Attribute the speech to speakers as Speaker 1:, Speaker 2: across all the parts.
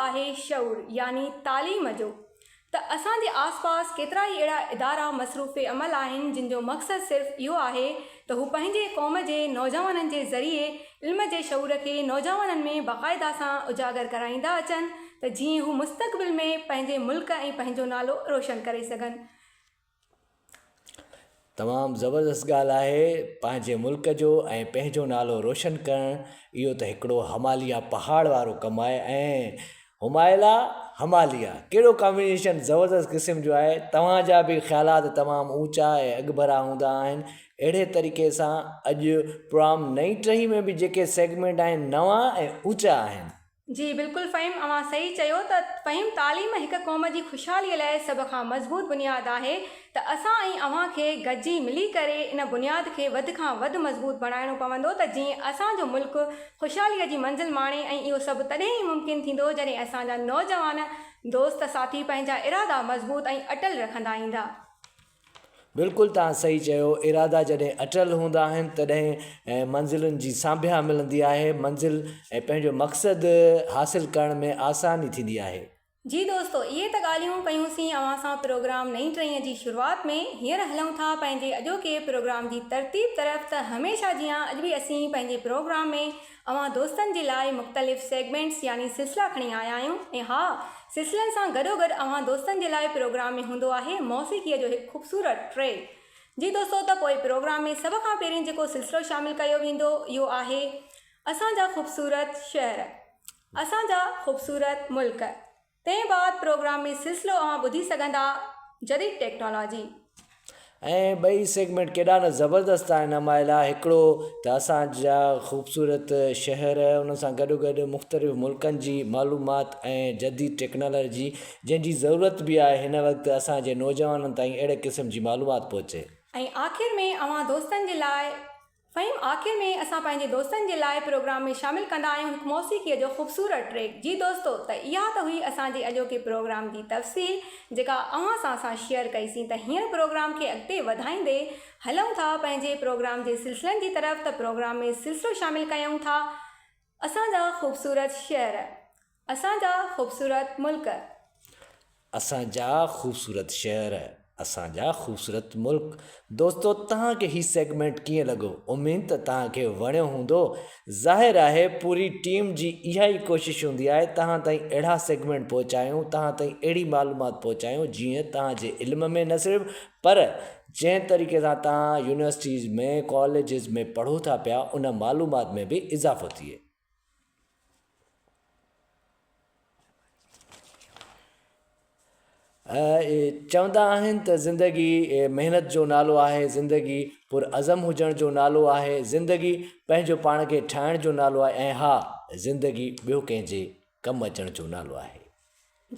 Speaker 1: آهي شعور يعني تعليم جو ته اسان جي آس پاس ڪيترا ئي اهڙا ادارا مصروف عمل آهن جن جو مقصد صرف اهو آهي ته هو پنهنجي قوم جي نوجوانن جي ذريعي علم جي شعور کي نوجوانن ۾ باقاعده سان اجاگر ڪرائيندا اچن ته جيئن هو مستقبل ۾ پنهنجي ملڪ ۽ پنهنجو نالو روشن ڪري سگهن.
Speaker 2: تمام زبردست ڳالهه آهي پنهنجي ملڪ جو ۽ پنهنجو نالو روشن ڪرڻ اهو ته هڪڙو هماليا پهاڙ وارو ڪم آهي ۽ همايلا هماليا ڪهڙو ڪامبينيشن زبردست قسم جو آهي توهانجا به خيالات تمام اوچا ۽ اڳڀرا هوندا آهن اهڙي طريقي سان اڄ پروام نئي ٽهي ۾ به جيڪي سيگمينٽ آهن نوان ۽ اوچا آهن جي بلڪل
Speaker 1: فھيم اوھان صحيح چيو ته فھيم تعليم ھڪ قوم جي خوشحالي لاء سڀ کان مضبوط بنياد آھي ته اسان ۽ اوھان کي گڏجي ملي ڪري ان بنياد کي وڌ کان وڌ مضبوط بڻائڻو پوندو ته جئين اسان جو ملڪ خوشحالي جي منزل ماڻي ۽ اھو سڀ تڏھن ئي ممڪن ٿيندو جڏھن اسان جا نوجوان دوست ساٿي پنھنجا ارادا مضبوط ۽ اٽل رکندا ايندا.
Speaker 2: بلڪل توهان صحيح چيو ارادا جڏهن اٽل هوندا آهن تڏهن منزلن جي سانڀيا ملندي آهي منزل ۽ پنهنجو مقصد حاصل ڪرڻ ۾ آساني ٿيندي آهي. جي دوستو
Speaker 1: اهي ته ڳالهيون ڪيون سين اوهان سان پروگرام نئين ٽهيء جي شروعات ۾ هينئر هلون ٿا پنهنجي اڄوڪي پروگرام جي ترتيب طرف ته هميشه جيان اڄ به اسين پنهنجي پروگرام ۾ اوهان دوستن جي لاء مختلف سيگمينٽس يعني سلسلا کڻي آيا آهيون ۽ ها سلسلن سان گڏو گڏ اوهان دوستن جي لاء پروگرام ۾ هوندو آهي موسيقيء جو هڪ خوبصورت ٽريڪ جي دوستو ته پوء پروگرام ۾ سڀ کان پهرين جيڪو سلسلو شامل ڪيو ويندو اهو آهي اسان جا خوبصورت شهر اسان جا خوبصورت ملڪ. تنهن بعد پروگرام ۾ سلسلو اوهان ٻڌي سگهندا جديد ٽيڪنالاجي. ۽
Speaker 2: ٻئي سيگمينٽ ڪيڏا نه زبردست آهن امايلا هڪڙو ته اسان جا خوبصورت شهر ان سان گڏو گڏ مختلف ملڪن جي معلومات ۽ جديد ٽيڪنالاجي جنهن جي ضرورت به آهي هن وقت اسان جي نوجوانن تائين اهڙي قسم جي معلومات پهچي. ۽ آخر ۾ اوهان
Speaker 1: دوستن جي لاء فھيم آخر ۾ اسان پنهنجي دوستن جي لاء پروگرام ۾ شامل ڪندا آهيون هڪ موسيقيء جو خوبصورت ٽريڪ جي دوستو ته اها ته هئي اسان جي اڄوڪي پروگرام جي تفصيل جيڪا اوهان سان اسان شيئر ڪئي سين ته هينئر پروگرام کي اڳتي وڌائيندي هلئون ٿا پنهنجي پروگرام جي سلسلن جي طرف ته پروگرام ۾ سلسلو شامل ڪيئون ٿا اسان جا خوبصورت شعر اسان جا خوبصورت ملڪ.
Speaker 2: اسان جا خوبصورت شهر. اسان جا خوبصورت ملڪ. دوستو توهان کي هي سيگمينٽ ڪيئن لڳو اميد ته توهان کي وڻيو هوندو ظاهر آهي پوري ٽيم جي اها ئي ڪوشش هوندي آهي توهان تائين اهڙا سيگمينٽ پهچايون توهان تائين اهڙي معلومات پهچايون جيئن توهان جي علم ۾ نه صرف پر جنهن طريقي سان توهان يونيورسٽيز ۾ ڪاليجز ۾ پڙهو ٿا پيا ان معلومات ۾ به اضافو ٿئي. اهي چوندا آهن ته زندگي محنت جو نالو آهي، زندگي پرعزم هجڻ جو نالو آهي، زندگي پنهنجو پاڻ کي ٺاهڻ جو نالو آهي ۽ ها زندگي ٻيو ڪنهن جي ڪم اچڻ جو نالو آهي.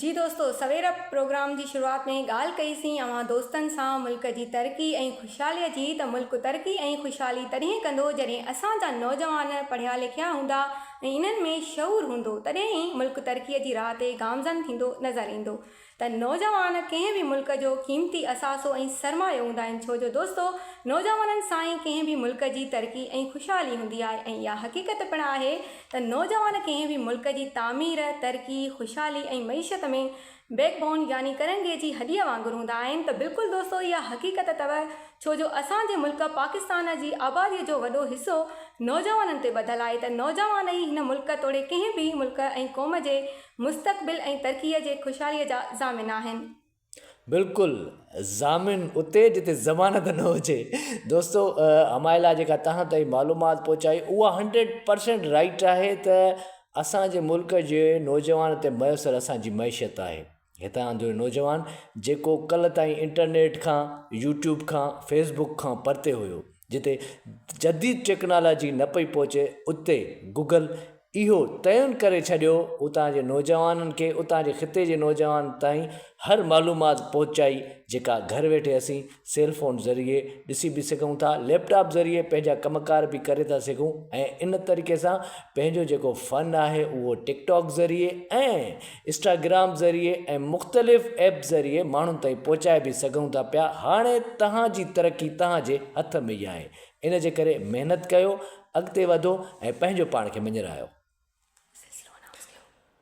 Speaker 2: جي دوستو
Speaker 1: سوير پروگرام جي شروعات ۾ ڳالهه ڪئي سين اوهان دوستن سان ملڪ جي ترقي ۽ خوشحالي جي ته ملڪ ترقي ۽ خوشحالي تڏهن ڪندو جڏهن اسان جا نوجوان پڙهيا لکيا هوندا ۽ انهن ۾ شعور هوندو تڏهن ئي ملڪ ترقي جي راهه تي گامزن ٿيندو نظر ايندو ته نوجوان ڪنهن به ملڪ جو قيمتي اثاثو ۽ سرمايو هوندا آهن ڇو جو دوستو نوجوانن سان ئي ڪنهن به ملڪ جي ترقي ۽ خوشحالي هوندي آهي ۽ اها حقيقت پڻ آهي ته نوجوان ڪنهن به ملڪ جي تعمير، ترقي، خوشحالي ۽ معيشت ۾ بيڪ بون يعني ڪرنگهي جي هڏيء وانگر هوندا آهن ته بلڪل دوستو اها حقيقت اٿو ڇو جو اسان جي ملڪ پاڪستان جي آبادي جو وڏو حصو نوجوانن تي ٻڌل آهي ته نوجوان ئي هن ملڪ توڙي ڪنهن به ملڪ ۽ قوم جي مستقبل ۽ ترقي جي خوشحالي جا ضامن آهن. بلڪل
Speaker 2: ضامن اتي جتي ضمانت نه هجي دوستو همايل لاء جيڪا تهان تائين معلومات پهچائي اها هنڊريڊ پرسينٽ رائٽ آهي ته اسانجي ملڪ جي نوجوان تي ميسر اسانجي معيشت آهي هتان جو نوجوان جيڪو ڪل تائين انٽرنيٽ کان يوٽيوب کان فيسبڪ کان پرتي هيو جتي جديد ٽيڪنالاجي نه پئي پهچي اتي گوگل اهو تعين ڪري ڇڏيو اتان جي نوجوانن کي اتان جي خطي جي نوجوانن تائين هر معلومات پهچائي جيڪا گهر ويٺي اسين سيل فون ذريعي ڏسي به سگهون ٿا ليپ ٽاپ ذريعي پنهنجا ڪم ڪار به ڪري ٿا سگهون ۽ ان طريقي سان پنهنجو جيڪو فن آهي اهو ٽڪ ٽاڪ ذريعي ۽ اسٽاگرام ذريعي ۽ مختلف ايپ ذريعي ماڻهن تائين پهچائي به سگهون ٿا پيا هاڻي توهان جي ترقي توهان جي هٿ ۾ ئي آهي ان جي ڪري محنت ڪيو اڳتي وڌو ۽ پنهنجو پاڻ کي مڃرايو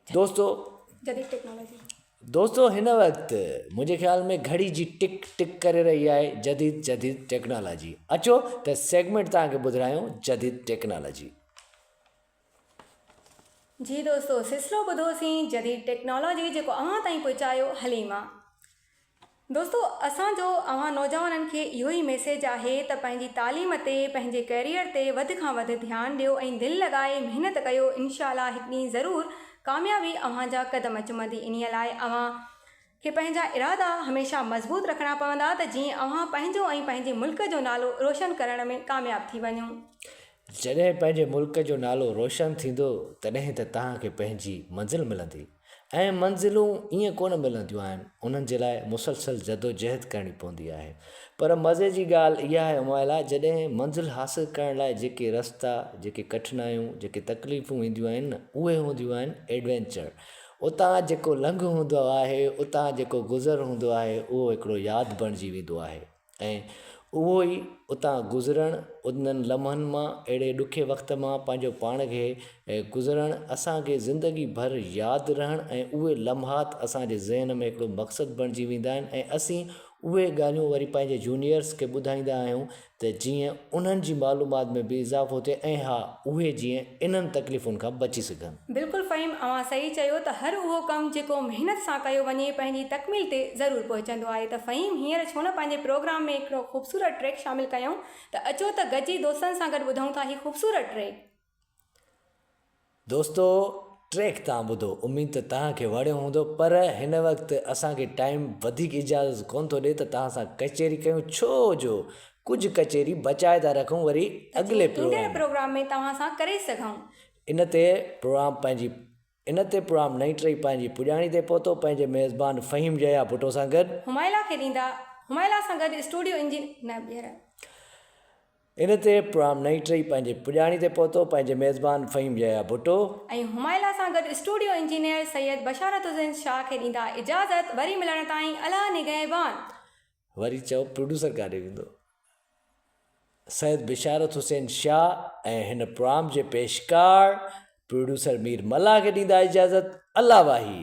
Speaker 2: دوستو
Speaker 1: دوستو هن
Speaker 2: وقت منهنجي خيال ۾ گهڙي جي ٽڪ ٽڪ ڪري رهي آهي جديد جديد ٽيڪنالاجي اچو ته سيگمنٽ توهان کي ٻڌرايون جديد ٽيڪنالاجي
Speaker 1: جي دوستو سلسلو ٻڌو سين جديد ٽيڪنالاجي جيڪو اوهان تائين پهچايو حليما دوستو اسان جو اوهان نوجوانن کي اهو ئي ميسيج آهي ته پنهنجي تعليم تي پنهنجي ڪيريئر تي وڌ کان وڌ ڌيان ڏيو ۽ دل لڳائي محنت ڪيو انشاء الله هڪ ڏينهن ضرور ڪاميابي اوهان جا قدم چمندي انهي لاء اوهان کي پنهنجا ارادا هميشه مضبوط رکڻا پوندا ته جيئن اوهان پنهنجو ۽ پنهنجي ملڪ جو نالو روشن ڪرڻ ۾ ڪامياب ٿي وڃو. جڏهن
Speaker 2: پنهنجي ملڪ جو نالو روشن ٿيندو تڏهن ته توهان کي پنهنجي منزل ملندي ۽ منزلون ائين ڪونه ملنديون آهن انهن جي لاء مسلسل جدوجهد ڪرڻي پوندي آهي پر مزي جي ڳالهه اها آهي امايلا جڏهن منزل حاصل ڪرڻ لاء جيڪي رستا جيڪي ڪٺنايون جيڪي تڪليفون اينديون آهن نه اهي هونديون آهن ايڊوينچر اتان جيڪو لنگهه هوندو آهي، اتان جيڪو گذر هوندو آهي، اهو هڪڙو ياد بڻجي ويندو آهي ۽ اهو ئي اتان گذرڻ، انهن لمحن مان، اهڙي ڏکي وقت مان پنهنجو پاڻ کي گذرڻ اسان کي زندگي ڀر ياد رهڻ ۽ اهي لمحات اسان جي ذهن ۾ هڪڙو مقصد بڻجي ويندا آهن ۽ اسين اهي ڳالهيون وري پنهنجي جونيئرس کي ٻڌائيندا آهيون ته جيئن انهن جي معلومات ۾ به اضافو ٿئي ۽ ها اهي جيئن انهن تڪليفن کان بچي سگهن. بلڪل فهيم اوهان
Speaker 1: صحيح چيو ته هر اهو ڪم جيڪو محنت سان ڪيو وڃي پنهنجي تڪميل تي ضرور پهچندو آهي ته فهيم هينئر ڇو نه پنهنجي پروگرام ۾ هڪڙو خوبصورت ٽريڪ شامل ڪيون ته اچو ته گڏجي دوستن سان گڏ ٻڌون ٿا هي خوبصورت ٽريڪ. دوستو
Speaker 2: ٽريڪ تان ٻڌو اميد ته تان کي وڻيو هوندو پر هن وقت اسان کي ٽائيم وڌيڪ اجازت ڪون ٿو ڏي ته تان سان ڪچهري ڪيون ڇو جو ڪجهه ڪچهري بچائي ٿا رکون وري اڳلي پروگرام ۾
Speaker 1: توهان سان ڪري سگهون ان تي
Speaker 2: پروگرام پنهنجي ان تي پرام نئين ٽري پنهنجي پڄاڻي تي پهتو پنهنجي ميزبان فهيم يحيٰ ڀٽو سان گڏ. همايلا کي ڏيندا
Speaker 1: همايلا سان گڏ اسٽوڊيو انجن نه ٻيهر.
Speaker 2: ان تي پرام نئين ٽري پنهنجي پڄاڻي تي پهتو پنهنجي ميزبان فهيم يحيٰ ڀٽو. ۽ همايلا سان
Speaker 1: گڏ اسٽوڊيو انجنيئر سيد بشارت الدين شاهه کي ڏيندا اجازت وري ملڻ تائين الهه نگهبان. وري
Speaker 2: چئو پروڊيوسر ڪاڏي ويندو؟ سيد بشارت حسين شاهه ۽ هن پرام جي پيشڪار پروڊيوسر مير ملاح کي ڏيندا اجازت الله واهي.